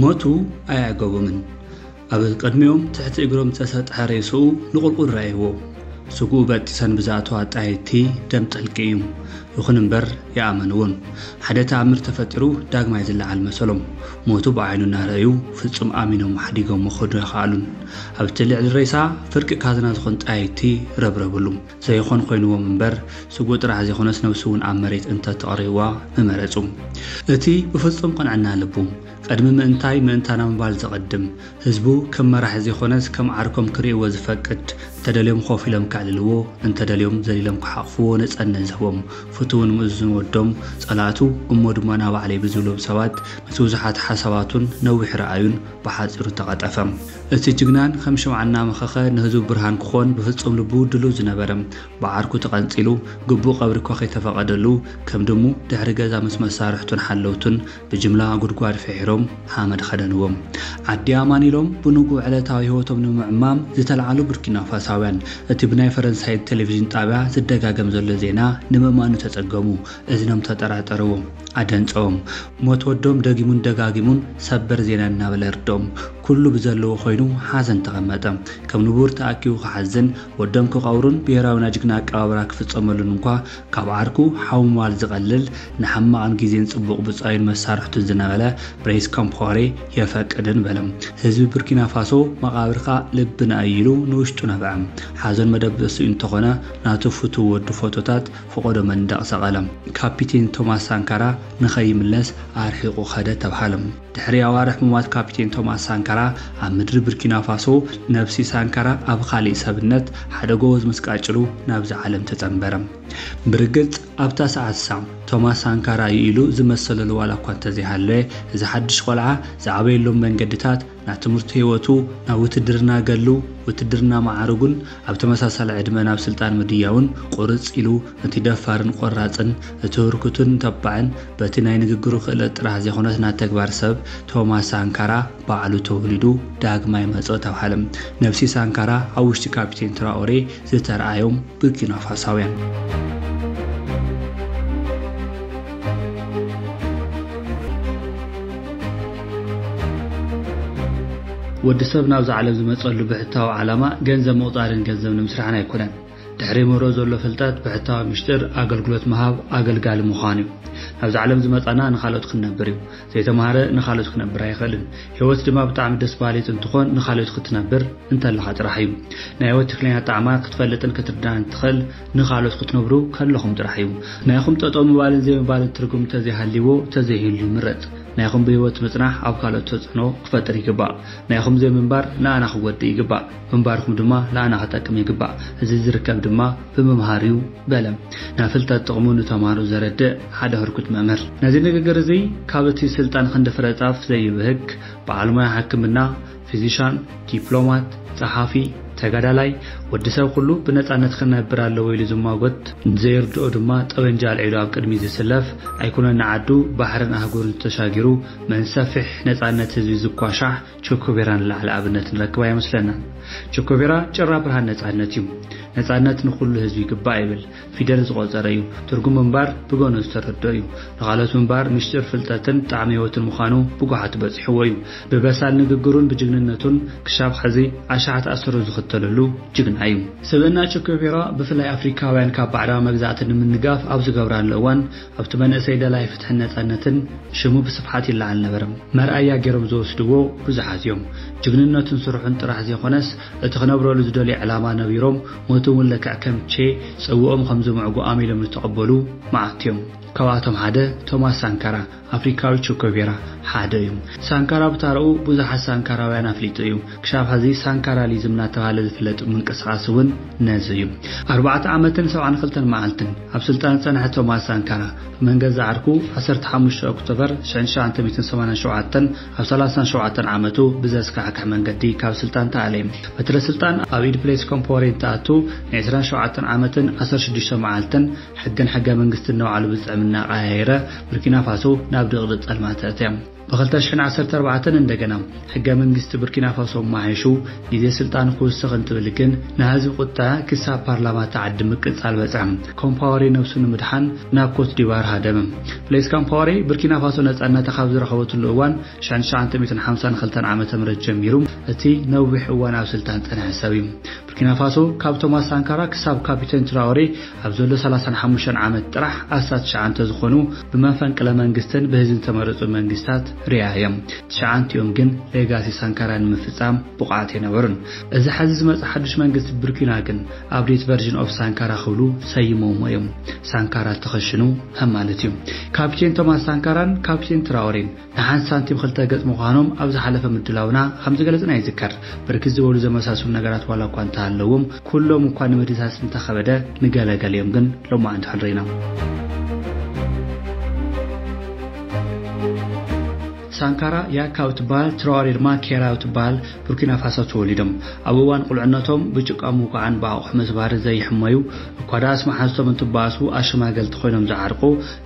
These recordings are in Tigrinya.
ሞቱ ኣየዕገቦምን። ኣብ ቅድሚኦም ትሕቲ እግሮም ዝተሰጥሐ ሬስኡ ንቑልቁል ረኣይዎ። ስግኡ በጢሰን ብዝኣተዋ ኣጣየይቲ ደም ጠልቂ እዩ። ይኹን እምበር ይኣመንዎም። ሓደ ተኣምር ተፈጢሩ ዳግማይ ዝለዓል መሰሎም። ሞቱ ብዓይኑ እናረኣዩ ፍጹም ኣሚኖሞ ሓዲጎሞ ክኸዱ ኣይኸኣሉን። ኣብቲ ልዕሊ ሬሳ ፍርቂ ካዝና ዝኾን ጣየይቲ ረብረብሉ። ዘይኾን ኮይንዎም እምበር ስግኡ ጥራሕ ዘይኮነስ ነብሱ እውን ኣብ መሬት እንተ ተቕርይዋ ምመረጹ። እቲ ብፍጹም ቅንዕና ልቡ፣ ቅድሚ ምእንታይ ምእንታና ምባል ዘቐድም፣ ህዝቡ ከም መራሒ ዘይኮነስ ከም ዓርኮም ክርእይዎ ዝፈቅድ፣ እንተደልዮም ኮፍ ኢሎም ከዕልልዎ፣ እንተደልዮም ዘሊሎም ክሓቕፍዎ ነጸነት ዝህቦም ፍቱውን ምእዙዝን ወዶም፣ ጸላእቱ እሞ ድማ ናባዕለይ ብዝብሎም ሰባት ምስ ብዙሓት ሓሳባቱን ነዊሕ ራእዩን ብሓጺሩ ተቐጠፈ። እቲ ጅግናን ኸም ሽምዓ እናመኸኸ ንህዝቡ ብርሃን ክኾን ብፍፁም ልቡ ድሉው ዝነበረ፣ ብዓርኩ ተቐንፂሉ፣ ግቡእ ቐብሪ እኳ ከይተፈቐደሉ፣ ከም ድሙ ድሕሪ ገዛ ምስ መሳርሕቱን ሓለውቱን ብጅምላ ጉድጓድ ፍሒሮም ሓመድ ኸደንዎ። ዓዲ ኣማን ኢሎም ብንጉህ ዕለታዊ ህይወቶም ንምዕማም ዝተልዓሉ ቡርኪናፋሳውያን፣ እቲ ብናይ ፈረንሳይ ቴሌቪዥን ጣብያ ዝደጋገም ዘሎ ዜና ንምእማኑ ተፀገሙ፣ እዝኖም ተጠራጠርዎ፣ ኣደንፀዎም። ሞት ወዶም ደጊሙን ደጋጊሙን ሰበር ዜና እናበለ የርድኦም። ኩሉ ብዘለዎ ኮይኑ ሓዘን ተቐመጠ። ከም ንቡር ተኣኪቡ ክሓዝን ወዶም ክቐብሩን ብሄራዊ ናይ ጅግና ኣቀባብራ ክፍጸመሉን እንኳ ካብ ዓርኩ ሓው ምባል ዝቐልል ንሕማቕን ግዜን ጽቡቕ ብጻዩን መሳርሕቱን ዝነበለ ብሬስ ኮምፓወሬ የፈቅድን በለ። ህዝቢ ቡርኪናፋሶ መቓብርካ ልብና እዩ ኢሉ ንውሽጡ ነብዐ። ሓዘኑ መደበሲኡ እንተኾነ ናቱ ፍቱው ወዱ ፎቶታት ፈቖዶ መንደቕ ሰቐለ። ካፒቴን ቶማስ ሳንካራ ንኸይምለስ ኣርሒቑ ከደ ተብሃለ። ድሕሪ ኣዋርሕ ምሟት ካፒቴን ቶማስ ሳንካራ ኣብ ምድሪ ብርኪናፋሶ፣ ነብሲ ሳንካራ ኣብ ኻሊእ ሰብነት ሓደ ጎበዝ ምስ ቃጭሉ ናብዛ ዓለም ተጸንበረ። ብርግጽ ኣብታ ሰዓት እሳ ቶማስ ሳንካራ እዩ ኢሉ ዝመሰለሉ ዋላ እኳ እንተዘይሃለወ፣ እዚ ሓድሽ ቆልዓ ዝዓበየሎም መንገድታት ናብ ትምህርቱ ህይወቱ፣ ናብ ውትድርና ገድሉ፣ ውትድርና መዓርጉን ኣብ ተመሳሳሊ ዕድመ ናብ ስልጣን ምድያቡን ቁርጽ ኢሉ እቲ ደፋርን ቆራጽን፣ እቲ ህርኩትን ተባዕን፣ በቲ ናይ ንግግሩ ክእለት ጥራሕ ዘይኮነስ ናይ ተግባር ሰብ፣ ቶማስ ሳንካራ፣ ባዕሉ ተወሊዱ ዳግማይ መጸኦ ተብሃለ። ነብሲ ሳንካራ ኣብ ውሽጢ ካፒቴን ትራኦሬ ዝተርኣዮም ቡርኪናፋሳውያን። ወዲ ሰብ ናብዛ ዓለም ዝመጸሉ ብሕታዊ ዓላማ ገንዘብ ምቑጻርን ገንዘብ ንምስራሕን ኣይኮነን። ድሕሪ መሮ ዘሎ ፍልጠት ብሕታዊ ምሽጥር ኣገልግሎት ምሃብ ኣገልጋሊ ምዃን እዩ። ናብዛ ዓለም ዝመጻና ንኻልኦት ክንነብር እዩ። ዘይተማህረ ንኻልኦት ክነብር ኣይኽእልን። ህይወት ድማ ብጣዕሚ ደስ በሃሊት እንትኾን ንኻልኦት ክትነብር እንተለኻ ጥራሕ እዩ። ናይ ህይወት ትክክለኛ ጣዕማ ክትፈልጥን ክትርዳእን እትኽእል ንኻልኦት ክትነብሩ ከለኹም ጥራሕ እዩ። ናይኹም ጠጠው ምባልን ዘይምባልን ትርጉም ተዘይሃልይዎ ተዘይህሉ ይምረጽ። ናይኹም ብህይወት ምጽናሕ ኣብ ካልኦት ተጽዕኖ ክፈጥር ይግባእ። ናይኹም ዘይምንባር ንኣና ክጎድእ ይግባእ። ምንባርኩም ድማ ንኣና ክጠቅም ይግባእ። እዚ ዝርከብ ድማ ብምምሃር እዩ በለ ናብ ፍልጠት ጥቕሙ ንተምሃሮ ዘረድእ ሓደ ህርኩት መምህር። ነዚ ንግግር እዚ ካብ እቲ ስልጣን ክንዲ ፍረ ጻፍ ዘይብህግ በዓል ሞያ ሕክምና፣ ፊዚሻን፣ ዲፕሎማት፣ ጸሓፊ፣ ተጋዳላይ፣ ወዲ ሰብ ኩሉ ብነጻነት ክነብር ኣለዎ ኢሉ ዝሟጎት፣ ንዘይርድኦ ድማ ጠበንጃ ኣልዒሉ ኣብ ቅድሚት ዝስለፍ፣ ኣይኮነን ንዓዱ ባሕርን ኣህጉርን ተሻጊሩ መንሰፊሕ ነጻነት ህዝቢ ዝኳሻሕ፣ ቸኮቬራ ንላዕሊ ኣብነት ንረክብ ኣይመስለናን። ቸኮቬራ ጭራ ብርሃን ነጻነት እዩ። ነጻነት ንኹሉ ህዝቢ ይግባእ ይብል። ፊደል ዝቆጸረ እዩ። ትርጉም ምንባር ብገኖ ዝተረድኦ እዩ። ንኻልኦት ምንባር ሚስጢር ፍልጠትን ጣዕሚ ህይወትን ምዃኑ ብጓሓቱ በጺሕዎ እዩ። ብበሳል ንግግሩን ብጅግንነቱን ክሻብ ሐዚ ኣሽሓት ኣሰሩ ዝኽተለሉ ጅግና እዩ። ስብእና ቸኮቬራ ብፍላይ ኣፍሪካውያን ካብ ባዕዳዊ መግዛእቲ ንምንጋፍ ኣብ ዝገብራሉ እዋን ኣብቲ መንእሰይ ደላይ ፍትሕን ነጻነትን ሽሙ ብስፍሓት ይለዓል ነበረ። መርኣያ ጌሮም ዝወስድዎ ብዙሓት እዮም። ጅግንነቱን ስርሑን ጥራሕ ዘይኮነስ እቲ ክነብረሉ ዝደልዮ ዕላማ ነቢሮም ሞቱ እውን ልክዕ ከም ቼ ጽውኦም ከም ዝምዕጉ ኣሚሎም ዝተቐበሉ መዓት እዮም። ካብኣቶም ሓደ ቶማስ ሳንካራ፣ ኣፍሪካዊ ቸኮቬራ፣ ሓደ እዩ። ሳንካራ ብታራኡ ብዙሓት ሳንካራውያን ኣፍሊጡ እዩ። ክሻብ ሐዚ ሳንካራሊዝም እናተብሃለ ዝፍለጥ ምንቅስቓስ እውን ነዚ እዩ። ኣርባዕተ ዓመትን ሰብዓን ክልተን መዓልትን! ኣብ ስልጣን ዝጸንሐ ቶማስ ሳንካራ፣ መንገዛ ዓርኩ ዓሰርተ ሓሙሽተ ኦክቶበር ሽሕን ትሽዓተ ሚእትን ሰማንያን ሸውዓተን ኣብ ሰላሳን ሸውዓተን ዓመቱ ብዘስካሕክሕ መንገዲ ካብ ስልጣን ተኣልየ። በትረ ስልጣን ኣብ ኢድ ብሌስ ኮምፓወሬ እንትኣቱ ንዕስራን ሸውዓተን ዓመትን ዓሰርተ ሽዱሽተ መዓልትን ሕግን ሕገ መንግስትን ነባዕሉ ብዝጥዕምና ኣቐያይረ ቡርኪናፋሶ ናብ ድቕድቕ ጸልማት ተእትያ። ብ ክልተ ሽሕን ዓሰርተ ኣርባዕተን እንደገና ሕገ መንግስቲ ቡርኪናፋሶ ኣማሓይሹ ግዜ ስልጣኑ ክውስኽ እንትብል ግን ናይ ህዝቢ ቁጠዐ ክሳብ ፓርላማ እታ ዓዲ ምቅጻል በጽሐ። ኮምፓወሬ ነብሱ ንምድሓን ናብ ኮትዲቫር ሃደመ። ብሌስ ካምፓወሬ ቡርኪናፋሶ ነጻነታ ካብ ዝረኸበትሉ እዋን ሽሕን ትሽዓተ ሚእትን ሓምሳን ክልተን ዓመተ ምህረት ጀሚሩ እቲ ነዊሕ እዋን ኣብ ስልጣን ዝጸንሐ ሰብ እዩ። ቡርኪናፋሶ ካብ ቶማስ ሳንካራ ክሳብ ካፒተን ትራኦሬ ኣብ ዘሎ ሰላሳን ሓሙሽተን ዓመት ጥራሕ ኣስታት ትሽዓንተ ዝኾኑ ብመፈንቅለ መንግስትን ብህዝብን ዝተመረፁ መንግስታት ሪኣ እዮም። ትሽዓንቲኦም ግን ሌጋሲ ሳንካራ ንምፍፃም ብቑዓት ኣይነበሩን። እዚ ሐዚ ዝመፀ ሓዱሽ መንግስቲ ቡርኪና ግን Update Version of Sankara ክብሉ ሰይሞምዎ እዮም። ሳንካራ ተኸሽኑ ማለት እዩ። ካፒቴን ቶማስ ሳንካራን ካፒቴን ትራኦሬን ንሓንቲ ሳንቲም ክልተ ገጽ ምዃኖም ኣብ ዝሓለፈ ምድላውና ከም ዝገለጽና ይዝከር። ብርክት ዝበሉ ዘመሳስሉ ነገራት ዋላ እኳ እንተሃለዎም፣ ኩሎም እኳ ንምድህሳስ እንተኸበደ፣ ንገለ ገሊኦም ግን ሎማዕንቲ ሕድሪና። ሳንካራ ያካ እትበሃል ትራዋሬ ድማ ኬራ እትበሃል ቡርኪናፋሶ ተወሊዶም ኣብ እዋን ቁልዕነቶም ብጭቃ ምውቃዕን ብኣቑሑ ምስባር ዘይሕመዩ እኳ ደኣስ መሓዝቶም እንትበኣሱ ኣሸማገልቲ ኮይኖም ዝዓርቁ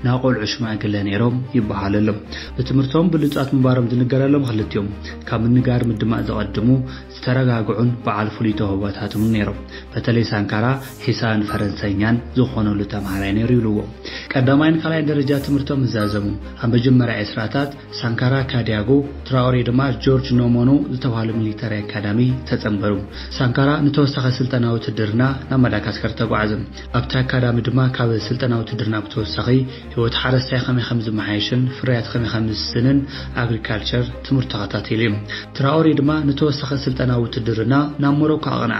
ናይ ቆልዑ ሽማግለ ነይሮም ይበሃለሎም። ብትምህርቶም ብሉጻት ምንባሮም ዝንገረሎም ክልቲኦም፣ ካብ ምንጋር ምድማጽ ዝቐድሙ፣ ዝተረጋግዑን በዓል ፍሉይ ተውህቦታትን እውን ነይሮም። በተለይ ሳንካራ ሒሳብን ፈረንሳይኛን ዝኾነሉ ተምሃራይ ነይሩ ይብልዎ። ቀዳማይን ካልኣይን ደረጃ ትምህርቶም ምስ ዛዘሙ፣ ኣብ መጀመርያ ዕስራታት፣ ሳንካራ ካዲያጎ፣ ትራኦሬ ድማ ጆርጅ ኖሞኖ ዝተብሃሉ ሚሊተሪ ኣካዳሚ ተጸንበሩ። ሳንካራ ንተወሳኺ ስልጠና ውትድርና ናብ ማዳጋስከር ተጓዕዘ። ኣብቲ ኣካዳሚ ድማ ካብ ስልጠና ውትድርና ብተወሳኺ ህይወት ሓረስታይ ከመይ ከም ዝመሓየሽን ፍርያት ከመይ ከም ዝስስንን፣ Agriculture፣ ትምህርቱ ተኸታቲሉ እዩ። ትራኦሬ ድማ ንተወሳኺ ስልጠና ውትድርና ናብ ሞሮኮ ኣቕንዐ።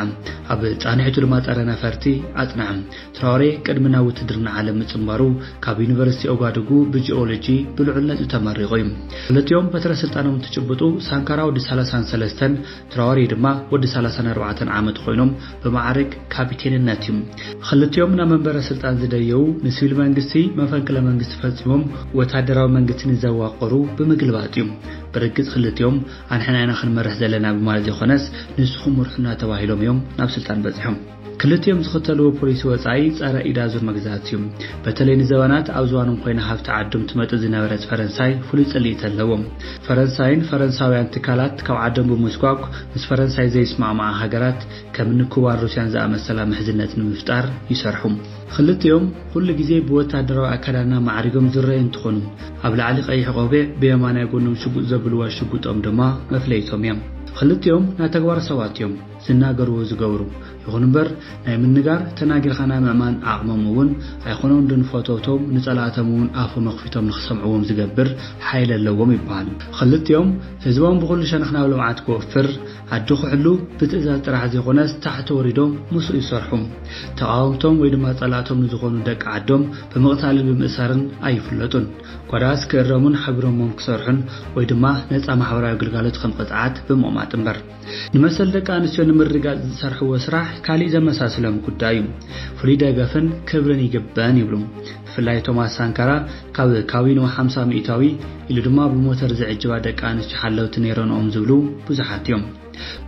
ኣብ ፃንሒቱ ድማ ፀረ ነፈርቲ ኣፅንዐ። ትራኦሬ ቅድሚ ናብ ውትድርና ዓለም ምፅንባሩ ካብ ዩኒቨርሲቲ ኦጋዱጉ ብጂኦሎጂ ብልዑል ነጥቢ ተመሪቑ እዩ። ክልቲኦም በትረ ስልጣኖም እንትጭብጡ ሳንካራ ወዲ ሰላሳን ሰለስተን ትራወሬ ድማ ወዲ ሰላሳን ኣርባዕተን ዓመት ኾይኖም ብመዓርግ ካፒቴንነት እዩ። ኽልቲኦም ናብ መንበረ ስልጣን ዝደየቡ ንሲቪል መንግስቲ መፈንቅለ መንግስቲ ፈፂሞም ወታደራዊ መንግስቲ ንዘዋቐሩ ብምግልባጥ እዩ። ብርግፅ ኽልቲኦም ኣንሕና ኢና ኽንመርሕ ዘለና ብማለት ዘይኾነስ ንስኹም ምርሑና ተባሂሎም እዮም ናብ ስልጣን በፂሖም። ክልቲኦም ዝኽተልዎ ፖሊሲ ወጻኢ ጸረ ኢድ ኣዙር መግዛእቲ እዩ። በተለይ ንዘበናት ኣብ ዝባኖም ኮይና ሃብቲ ዓዶም ትመጥጥ ዝነበረት ፈረንሳይ ፍሉይ ጽልኢት ኣለዎም። ፈረንሳይን ፈረንሳውያን ትካላት ካብ ዓዶም ብምስጓግ ምስ ፈረንሳይ ዘይስማዕማዓ ሃገራት ከምኒ ኩባን ሩስያን ዝኣመሰላ ምሕዝነት ንምፍጣር ይሰርሑ። ኽልቲኦም ኹሉ ግዜ ብወታደራዊ ኣከዳድና ማዕሪጎም ዝረኣዩ እንትኾኑ ኣብ ላዕሊ ቀይሕ ቆቢዕ ብየማናይ ጎኖም ሽጉጥ ዘብልዋ ሽጉጦም ድማ መፍለይቶም እያ። ኽልቲኦም ናተግባር ሰባት እዮም። ዝናገሩ ዝገብሩ ይኹን እምበር ናይ ምንጋር ተናጊርካ ናይ ምእማን ዓቕሞም እውን ኣይኮኖን ዶ ንፈተውቶም ንጸላእቶም እውን ኣፎም ኣኽፊቶም ንኽሰምዕዎም ዝገብር ሓይሊ ኣለዎም ይበሃል ኽልቲኦም ህዝቦም ብኹሉ ሸነኽ ናብ ልምዓት ክወፍር ዓዲ ክሕሉ ብትእዛዝ ጥራሕ ዘይኮነስ ታሕቲ ወሪዶም ምስኡ ይሰርሑ ተቓወምቶም ወይ ድማ ጸላእቶም ንዝኾኑ ደቂ ዓዶም ብምቕታልን ብምእሳርን ኣይፍለጡን ጓዳስ ክእረሙን ሓቢሮሞም ክሰርሑን ወይ ድማ ነጻ ማሕበራዊ ግልጋሎት ኸም ቕጽዓት ብምቕማጥ እምበር ንመሰል ደቂ ኣንስትዮ ንምርግጋፅ ዝሰርሕዎ ስራሕ ካሊእ ዘመሳስሎም ጉዳይ እዩ። ፍሉይ ደገፍን ክብርን ይግበን ይብሉ። ብፍላይ ቶማስ ሳንካራ ካብ ካዊኖ ሓምሳ ሚኢታዊ ኢሉ ድማ ብሞተር ዝዕጅባ ደቂ ኣንስትዮ ሓለውቲ ነይረንኦም ዝብሉ ብዙሓት እዮም።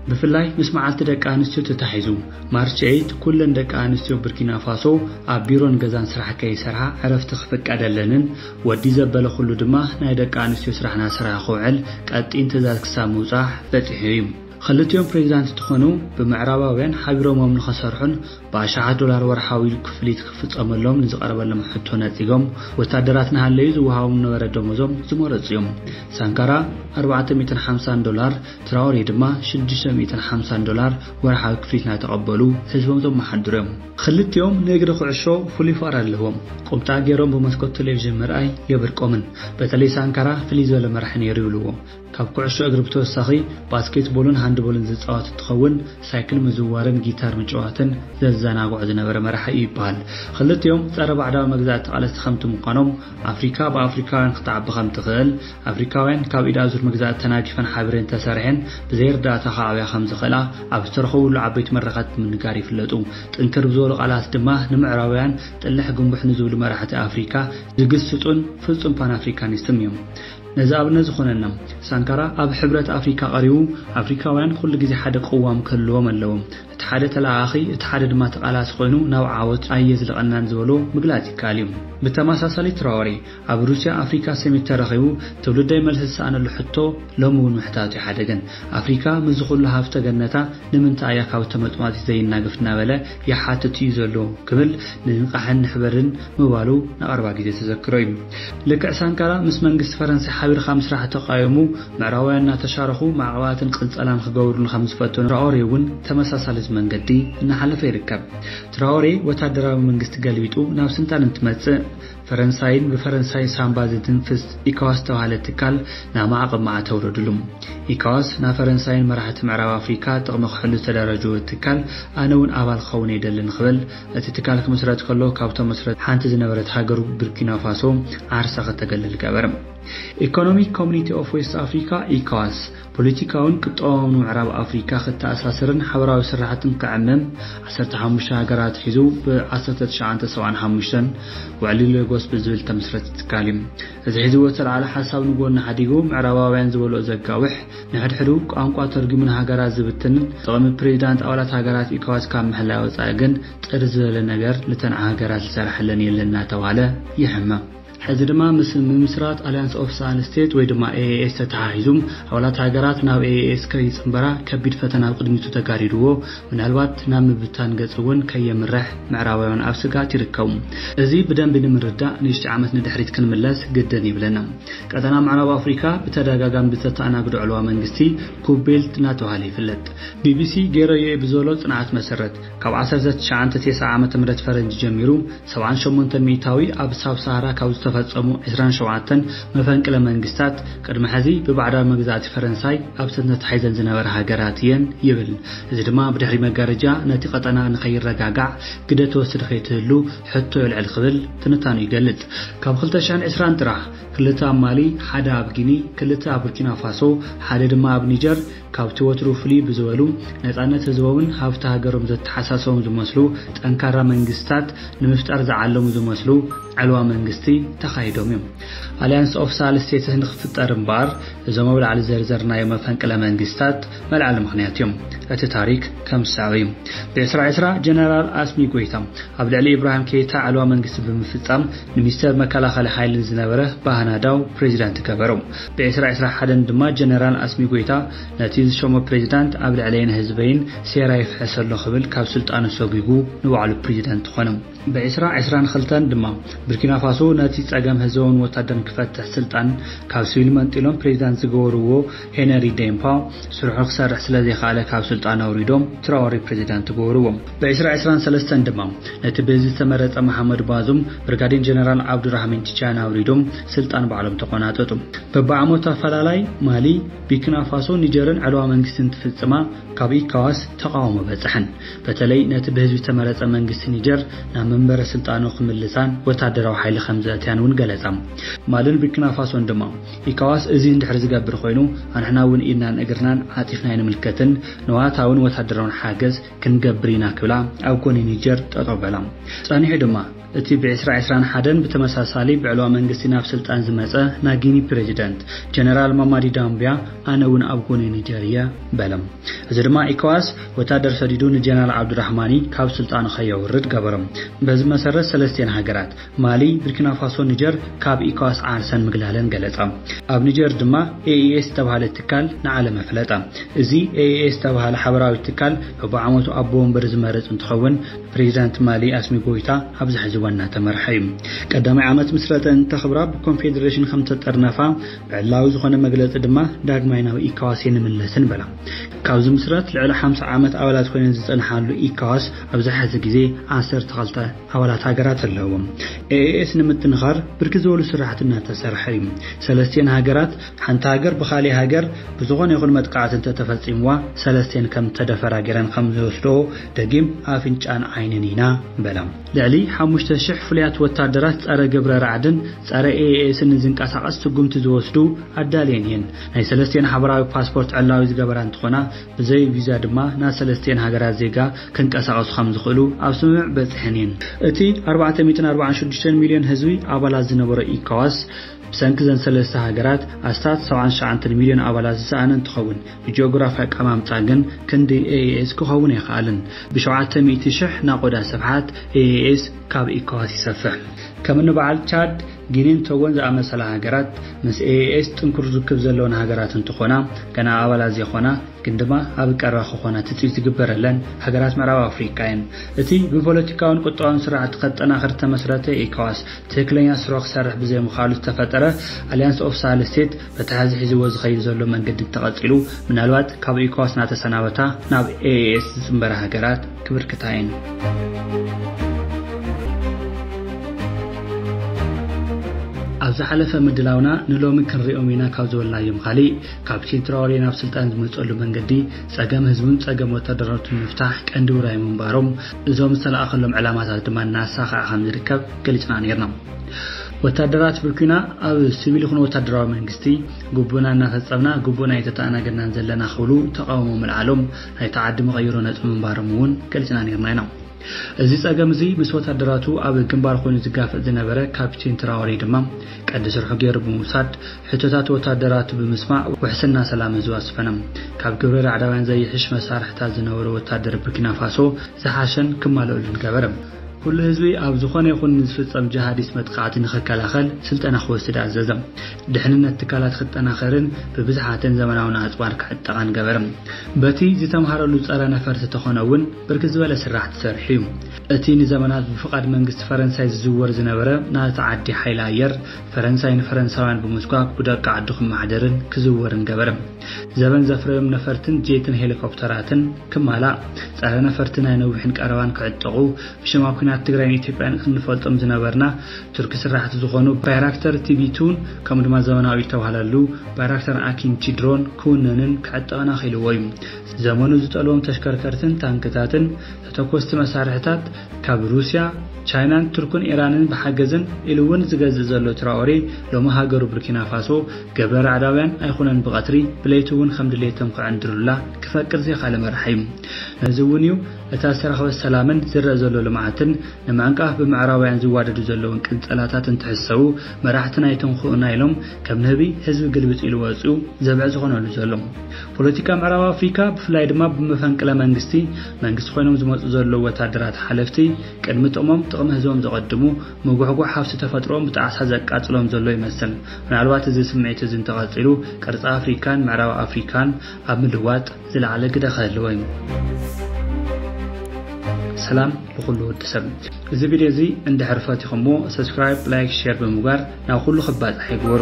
ብፍላይ ምስ መዓልቲ ደቂ ኣንስትዮ ተታሒዙ፣ ማርች ኤይት፣ ኩለን ደቂ ኣንስትዮ ቡርኪናፋሶ ኣብ ቢሮን ገዛን ስራሕ ከይሰርሓ ዕረፍቲ ክፍቀደለንን ወዲ ዘበለ ኩሉ ድማ ናይ ደቂ ኣንስትዮ ስራሕና ስራህ ክውዕል ቀጢን ትእዛዝ ክሳብ ምውጻሕ በጺሑ እዩ። ኽልቲኦም ፕሬዚዳንት እንትኾኑ ብምዕራባውያን ሓቢሮሞም ንኸሰርሑን ብኣሻሓት ዶላር ወርሓዊ ክፍሊት ክፍጸመሎም ንዝቐረበሎም ሕቶ ነጺጎም ወታደራት ንሃለዩ ዝወሃቦም ዝነበረ ደሞዞም ዝመረጹ እዮም። ሳንካራ ኣርባዕተ ሚእትን ሓምሳን ዶላር ትራኦሬ ድማ ሽዱሽተ ሚእትን ሓምሳን ዶላር ወርሓዊ ክፍሊት ናተቐበሉ ህዝቦም ዘመሓድሩ እዮም። ኽልቲኦም ንእግሪ ኩዕሾ ፍሉይ ፍቕሪ ኣለዎም። ቁምጣ ገይሮም ብመስኮት ቴሌቪዥን ምርኣይ የብርቆምን። በተለይ ሳንካራ ፍልይ ዝበለ መራሒ ነይሩ ይብልዎ። ካብ ኩዕሾ እግሪ ብተወሳኺ ባስኬትቦልን ሃንድቦልን ዝፃወት እንትኸውን ሳይክል ምዝዋርን ጊታር ምጭዋትን ዘዘናግዖ ዝነበረ መራሒ እዩ ይበሃል። ኽልቲኦም ፀረ ባዕዳዊ መግዛእቲ ተቓለስቲ ከምቲ ምዃኖም ኣፍሪካ ብኣፍሪካውያን ክትዓቢ ከምትኽእል ኣፍሪካውያን ካብ ኢድ ኣዙር መግዛእቲ ተናጊፈን ሓቢረን ተሰሪሐን ብዘይ ርዳእታ ክዓብያ ከምዝኽእላ ኣብ ዝተረኸብሉ ዓበይቲ መድረኻት ብምንጋር ይፍለጡ። ጥንክር ብዝበሉ ቃላት ድማ ንምዕራባውያን ጥልሕ ግንቡሕ ንዝብሉ መራሕቲ ኣፍሪካ ዝግስጹን ፍጹም ፓን ኣፍሪካኒስትም እዮም። ነዚ ኣብነት ዝኾነና ሳንካራ ኣብ ሕብረት ኣፍሪካ ቀሪቡ ኣፍሪካውያን ኩሉ ግዜ ሓደ ቅዋም ክህልዎም ኣለዎ፣ እቲ ሓደ ተለኣኣኺ እቲ ሓደ ድማ ተቓላሲ ኮይኑ ናብ ዓወት ኣየዝልቐናን ዝበሎ ምግላጽ ይከኣል እዩ። ብተመሳሳሊ ትራወሬ ኣብ ሩስያ ኣፍሪካ ሰሚት ተረኺቡ ትውልደይ መልሲ ዝሰኣነሉ ሕቶ ሎሚ እውን ምሕታቱ ኣይሓደገን። ኣፍሪካ ምስዚ ኩሉ ሃፍተ ገነታ ንምንታይ እያ ካብ ተመፅዋቲ ዘይናገፍ እናበለ ይሓትት እዩ ዘሎ ክብል ንንቃሕን ንሕበርን ምባሉ ንቀረባ ግዜ ተዘክሮ እዩ። ልክዕ ሳንካራ ምስ መንግስቲ ፈረንሳይ ሓቢርካ ምስራሕ ተቃዊሙ ምዕራባውያን እናተሻረኹ ማዕቀባትን ቅንፀላን ክገብሩሉ ከምዝፈተኑ ትራኦሬ እውን ተመሳሳሊት መንገዲ እናሓለፈ ይርከብ። ትራኦሬ ወታደራዊ መንግስቲ ገልቢጡ ናብ ስልጣን እንትመፅእ፣ ፈረንሳይን ብፈረንሳይ ሳንባ ዝትንፍስ ኢካዋስ ዝተባህለ ትካል ናብ ማዕቕብ መኣ ተውረድሉ። ኢካዋስ ናብ ፈረንሳይን መራሕቲ ምዕራብ ኣፍሪካ ጥቕሚ ክሕሉ ዝተደራጀወ ትካል ኣነ እውን ኣባል ክኸውን እየ ደሊ ንክበል እቲ ትካል ክምስረት ከሎ ካብቶም መስረቲ ሓንቲ ዝነበረት ሃገሩ ቡርኪናፋሶ ዓርሳ ክተገልል ገበረ። ኢኮኖሚክ ኮሚኒቲ ኦፍ ዌስት ኣፍሪካ፣ ኢካዋስ፣ ፖለቲካውን ቁጠባውን ምዕራብ ኣፍሪካ ክተኣሳስርን ሓበራዊ ስራሕትን ክዕምም ዓሰርተ ሓሙሽተ ሃገራት ሒዙ ብ ዓሰርተ ትሽዓተ ሰብዓን ሓሙሽተን ውዕሊ ሌጎስ ብዝብል ዝተመስረተ ትካል እዩ። እዚ ሒዝዎ ዝተልዓለ ሓሳብ ንጎኒ ሓዲጉ ምዕራባውያን ዝበልኦ ዘጋውሕ፣ ንሕድሕዱ ቋንቋ ተርጒሙ ንሃገራት ዝብትንን ጥቕሚ ፕሬዚዳንት ኣባላት ሃገራት ኢኮዋስ ካብ ምሕላይ ወፃኢ ግን ጥር ዝበለ ነገር ንተን ሃገራት ዝሰረሐለን የለን እናተብሃለ ይሕመም። ሕዚ ድማ ምስ ምምስራት ኣልያንስ ኦፍ ሰኣን ስቴት ወይ ድማ AAS ተተሓሒዙ ኣባላት ሃገራት ናብ AAS ከይጽንበራ ከቢድ ፈተና ኣብ ቅድሚቱ ተጋሪድዎ ምናልባት ናብ ምብታን ገጽ እውን ከየምርሕ ምዕራባውያን ኣብ ስግኣት ይርከቡ። እዚ ብደንቢ ንምርዳእ ንሽሕ ዓመት ንድሕሪት ክንምለስ ግድን ይብለና። ቀጠና ምዕራብ ኣፍሪካ ብተደጋጋሚ ብዝተተኣናግዶ ዕልዋ መንግስቲ ኩብ ቤልት እናተብሃለ ይፍለጥ። ቢቢሲ ገይረዮ'የ ብዝበሎ ጽንዓት መሰረት፣ ካብ ዓሰርተ ትሽዓንተ ቴስዓ ዓመተ ምህረት ፈረንጂ ጀሚሩ ሰብዓን ሸሞንተን ሚኢታዊ ኣብ ሳብ ሳሃራ ካብ ዝተፈጸሙ ዕስራን ሸውዓተን መፈንቅለ መንግስታት ቅድሚ ሕዚ ብባዕዳዊ መግዛእቲ ፈረንሳይ ኣብተን ተታሒዘን ዝነበራ ሃገራት እየን ይብል። እዚ ድማ ብድሕሪ መጋረጃ ነቲ ቀጠና ንከይረጋጋዕ ግደ ትወስድ ከይትህሉ ሕቶ የልዕል ክብል ትንታኑ ይገልጽ። ካብ ክልተ ሽሕን ዕስራን ጥራሕ ክልተ ኣብ ማሊ፣ ሓደ ኣብ ጊኒ፣ ክልተ ኣብ ቡርኪናፋሶ፣ ሓደ ድማ ኣብ ኒጀር፣ ካብቲ ወትሩ ፍልይ ብዝበሉ ነጻነት ህዝቦምን ሃብቲ ሃገሮም ዘተሓሳሰቦም ዝመስሉ ጠንካራ መንግስታት ንምፍጣር ዝዓለሙ ዝመስሉ ዕልዋ መንግስቲ ተኻይዶም እዮም። ኣሊያንስ ኦፍ ሳል ስቴትስ ንክፍጠር እምበኣር እዞም ኣብ ላዕሊ ዝዘርዘርናዮም መፈንቅለ መንግስታት መልዓሊ ምኽንያት እዮም። እቲ ታሪክ ከም ዝስዕብ እዩ። ብ ዕስራ ዕስራ ጀነራል ኣስሚ ጎይታ ኣብ ልዕሊ ኢብራሂም ኬይታ ዕልዋ መንግስቲ ብምፍጻም ንሚስተር መከላኸሊ ሓይሊ ንዝነበረ ባህናዳው ፕሬዚዳንት ገበሮ። ብዕስራ ዕስራ ሓደን ድማ ጀነራል ኣስሚ ጎይታ ነቲ ዝሸሞ ፕሬዚዳንት ኣብ ልዕለይን ህዝበይን ሴራ ይፍሕስ ኣሎ ክብል ካብ ስልጣኑ ሰጒጉ ንባዕሉ ፕሪዚደንት ኾነ። ብዕስራ ዕስራን ኽልተን ድማ ቡርኪናፋሶ ነቲ ፀገም ህዝባውን ወታደርን ክፈትሕ ስልጣን ካብ ስቪል መንጢሎም ፕሬዚዳንት ዝገበርዎ ሄነሪ ዴምፓ ስርሑ ክሰርሕ ስለዘይኸኣለ ካብ ስልጣን ኣውሪዶም ትራወሬ ፕሬዚዳንት ገበርዎ። ብዕስራ ዕስራን ሰለስተን ድማ ነቲ ብህዝቢ ዝተመረጸ መሓመድ ባዙም ብርጋዴን ጀነራል ዓብዱራህሚን ቲቻን ኣውሪዶም ስልጣን ባዕሎም ተቆናጠጡ። በብዓመቱ ኣፈላላይ ማሊ፣ ቢክናፋሶ፣ ኒጀርን ዕልዋ መንግስቲ እንትፍጽማ ካብ ኢካዋስ ተቓውሞ በጸሐን። በተለይ ነቲ ብህዝቢ ዝተመረጸ መንግስቲ ኒጀር ናብ መንበረ ስልጣኑ ክምልሳን ወታደራዊ ሓይሊ ከምዘእትያን እውን ገለጻ። ማልን ቢክናፋሶን ድማ ኢካዋስ እዚ እንድሕር ዝገብር ኮይኑ ኣንሕና እውን ኢድናን እግርናን ዓጺፍና ኣይንምልከትን፣ ንዋታውን ወታደራውን ሓገዝ፣ ክንገብር ኢና ክብላ ኣብ ጎኒ ኒጀር ጠጠው በላ። ጸኒሑ ድማ እቲ ብ ዕስራ ዕስራን ሓደን ብተመሳሳሊ ብዕልዋ መንግስቲ ናብ ስልጣን ዝመጸ ናይ ጊኒ ፕረዚደንት ጀነራል ማማዲ ዳምብያ ኣነ እውን ኣብ ጎኒ ኒጀር እየ በለ። እዚ ድማ ኢኮዋስ ወታደር ሰዲዱ ንጀነራል ዓብዱራሕማኒ ካብ ስልጣኑ ከየውርድ ገበሮ። በዚ መሰረት ሰለስቲኤን ሃገራት ማሊ፣ ብርኪናፋሶን ኒጀር ካብ ኢኮዋስ ዓርሰን ምግላለን ገለጻ። ኣብ ኒጀር ድማ ኤኢኤስ ዝተብሃለ ትካል ንዓለም ኣፍለጠ። እዚ ኤኢኤስ ዝተብሃለ ሓበራዊ ትካል በብዓመቱ ኣቦ ወንበር ዝመርጽ እንትኸውን ብፕሬዚዳንት ማሊ ኣስሚ ጎይታ ኣብዚ ሕዚ እዋን እናተመርሐ እዩ። ቀዳማይ ዓመት ምስረተ እንተኽብራ ብኮንፌዴሬሽን ከምተጠርነፋ ብዕላዊ ዝኾነ መግለጺ ድማ ዳግማይ ናብ ኢኮዋስ ኣይንምለስን በላ። ካብ ዝምስረት ልዕሊ ሓምሳ ዓመት ኣባላት ኮይነን ዝጸንሓሉ ኢኮዋስ ኣብዚ ሕዚ ግዜ ዓሰርተ ክልተ ኣባላት ሃገራት ኣለዎ። ኤኤኤስ ንምጥንኻር ብርክት ዝበሉ ስራሕቲ እናተሰርሐ እዩ። ሰለስቲኤን ሃገራት ሓንቲ ሃገር ብኻሊእ ሃገር ብዝኾነ ይኹን መጥቓዕቲ እንተተፈፂምዋ ሰለስቲኤን ከምዝተደፈራ ገይረን ከምዝወስድኦ ደጊም ኣፍንጫን ዓይንን ኢና በለ። ልዕሊ ሓሙሽተ ሽሕ ፍሉያት ወታደራት ፀረ ግብረ ራዕድን ፀረ ኤኤኤስን ንዝንቀሳቐስ ስጉምቲ ዝወስዱ ኣዳልየን እየን። ናይ ሰለስቲኤን ሓበራዊ ፓስፖርት ዕላዊ ዝገበራ እንትኾና፣ ብዘይ ቪዛ ድማ ናብ ሰለስቲኤን ሃገራት ዜጋ ክንቀሳቐሱ ከም ዝኽእሉ ኣብ ስምምዕ በጺሐን እየን። እቲ ኣርባዕተ ሚእትን ኣርባዓን ሽዱሽተን ሚልዮን ህዝቢ ኣባላት ዝነበሮ ኢኮዋስ፣ ብሰንኪ እዘን ሰለስተ ሃገራት ኣስታት ሰብዓን ትሽዓንተን ሚልዮን ኣባላት ዝሰኣነ እንትኸውን፣ ብጂኦግራፊ ኣቀማምጣ ግን ክንዲ ኤኢኤስ ክኸውን ኣይኸኣለን። ብሸውዓተ ሚእቲ ሽሕ ናቖዳ ስፍሓት ኤኢኤስ ካብ ኢኮዋስ ይሰፍሕ። ከም እኒ በዓል ቻድ፣ ጊኒን ቶጎን ዝኣመሰላ ሃገራት ምስ AES ጥንኩር ርክብ ዘለወን ሃገራት እንትኾና፣ ገና ኣባላት ዘይኾና ግን ድማ ኣብ ቀረባ ክኾና ትጽቢት ዝግበረለን ሃገራት ምዕራብ ኣፍሪቃ እየን። እቲ ብፖለቲካውን ቁጠባውን ስርዓት ከጠናኽር ዝተመስረተ ኤኮዋስ ትክክለኛ ስርሑ ክሰርሕ ብዘይምኽኣሉ ዝተፈጠረ ኣሊያንስ ኦፍ ሳህል ስቴት በቲ ሐዚ ሒዝዎ ዝኸይድ ዘሎ መንገዲ እንተቐጺሉ ምናልባት ካብ ኤኮዋስ ናተሰናበታ ናብ AES ዝጽንበራ ሃገራት ክብርክታይን። ኣብ ዝሓለፈ ምድላውና ንሎሚ ክንሪኦም ኢና ካብ ዝበልናዮም ካሊእ ካፕቲን ትራወሬ ናብ ስልጣን ዝመፀሉ መንገዲ ፀገም ህዝቡን ፀገም ወታደራቱን ምፍታሕ ቀንዲ ውራይ ምንባሮም እዞም ዝተለኣኸሎም ዕላማታት ድማ እናሳኸዐ ከምዝርከብ ገሊፅና ነይርና። ወታደራት ብኲና ኣብ ስቪል ይኹን ወታደራዊ መንግስቲ ግቡእና እናፈፀምና ግቡእና ኣይተተኣናገድናን ዘለና ክብሉ ተቓውሞ ምልዓሎም ናይቲ ዓዲ መቐይሮ ነጥቢ ምንባሮም እውን ገሊፅና ነይርና ኢና። እዚ ፀገም እዚ ምስ ወታደራቱ ኣብ ግንባር ኮይኑ ዝጋፈጥ ዝነበረ ካፒቴን ትራኦሬ ድማ ቀንዲ ስርሑ ገይሩ ብምውሳድ ሕቶታት ወታደራቱ ብምስማዕ ውሕስና ሰላም ህዝቢ ኣስፈነ። ካብ ግብረ ራዕዳውያን ዘይሕሽ መሳርሕታት ዝነበሮ ወታደር ቡርኪናፋሶ ዝሓሸን ክማለኡሉን ገበረ። ኩሉ ህዝቢ ኣብ ዝኾነ ይኹን ንዝፍጸም ጀሃዲስት መጥቓዕቲ ንኽከላኸል ስልጠና ክወስድ ኣዘዘ። ድሕንነት ትካላት ክጠናኸርን ብብዝሓትን ዘመናውን ኣጽዋር ክዕጠቓን ገበረ። በቲ ዝተምሃረሉ ጸረ ነፈርቲ ተኾነ እውን ብርክት ዝበለ ስራሕቲ ሰሪሑ እዩ። እቲ ንዘመናት ብፍቓድ መንግስቲ ፈረንሳይ ዝዝወር ዝነበረ ናእቲ ዓዲ ሓይሊ ኣየር ፈረንሳይ ንፈረንሳውያን ብምስጓግ ብደቂ ዓዱ ክመሓደርን ክዝወርን ገበረ። ዘበን ዘፍረዮም ነፈርትን ጄትን ሄሊኮፕተራትን ክማላእ፣ ጸረ ነፈርቲ ናይ ነዊሕን ቀረባን ክዕጠቑ፣ ብሽም ኣብ ኲናት ትግራይን ኢትዮጵያን እንፈልጦም ዝነበርና ቱርኪ ስራሕቲ ዝኾኑ ባይራክተር ቲቢ ቱን ከምኡ ድማ ዘመናዊ ዝተባህለሉ ባይራክተር ኣኪንቺ ድሮን ክውነንን ክዕጠቕን ኣኽኢልዎ እዩ። ዘመኑ ዝጠልቦም ተሽከርከርትን ታንክታትን ተተኮስቲ መሳርሕታት ካብ ሩስያ፣ ቻይናን ቱርክን ኢራንን ብሓገዝን ኢሉ ውን ዝገዝእ ዘሎ ትራኦሬ ሎሚ ሃገሩ ቡርኪናፋሶ ገብረ ራዕዳውያን ኣይኹነን ብቐትሪ ብለይቲ ውን ከም ድሌቶም ክዕንድሩላ ክፈቅድ ዘይኻለ መራሒ ዩ። ነዚ ውን ዩ እታ ዝተረኽበት ሰላምን ዝረእ ዘሎ ልምዓትን ንምዕንቃፍ ብምዕራባውያን ዝዋደዱ ዘለውን ቅንጸላታት እንትሕሰዉ መራሕትና ኣይትንኩኡና ኢሎም ከም ንህቢ ህዝቢ ግልብጥ ኢሉ ወጽዩ ዘብዕ ዝኾነሉ ዘሎ። ፖለቲካ ምዕራብ ኣፍሪካ ብፍላይ ድማ ብመፈንቅለ መንግስቲ መንግስቲ ኮይኖም ዝመጹ ዘለዉ ወታደራት ሓለፍቲ ቅድሚ ጥቕሞም ጥቕሚ ህዝቦም ዘቐድሙ፣ ምጉሕጓሕ ሃፍቲ ተፈጥሮኦም ብጣዕሳ ዘቃጽሎም ዘሎ ይመስል። ምናልባት እዚ ስምዒት እዚ እንተቐጺሉ ቅርጺ ኣፍሪካን ምዕራብ ኣፍሪካን ኣብ ምልዋጥ ዝለዓለ ግደ ክህልዎ እዩ። ሰላም ልኹሉ ወዲ ሰብ እዚ ቪድዮ እዚ እንድሕር ፈቲኹምዎ ሰብስክራይብ ላይክ ሼር ብምግባር ናብ ኩሉ ክባጻሕ ይግበሩ።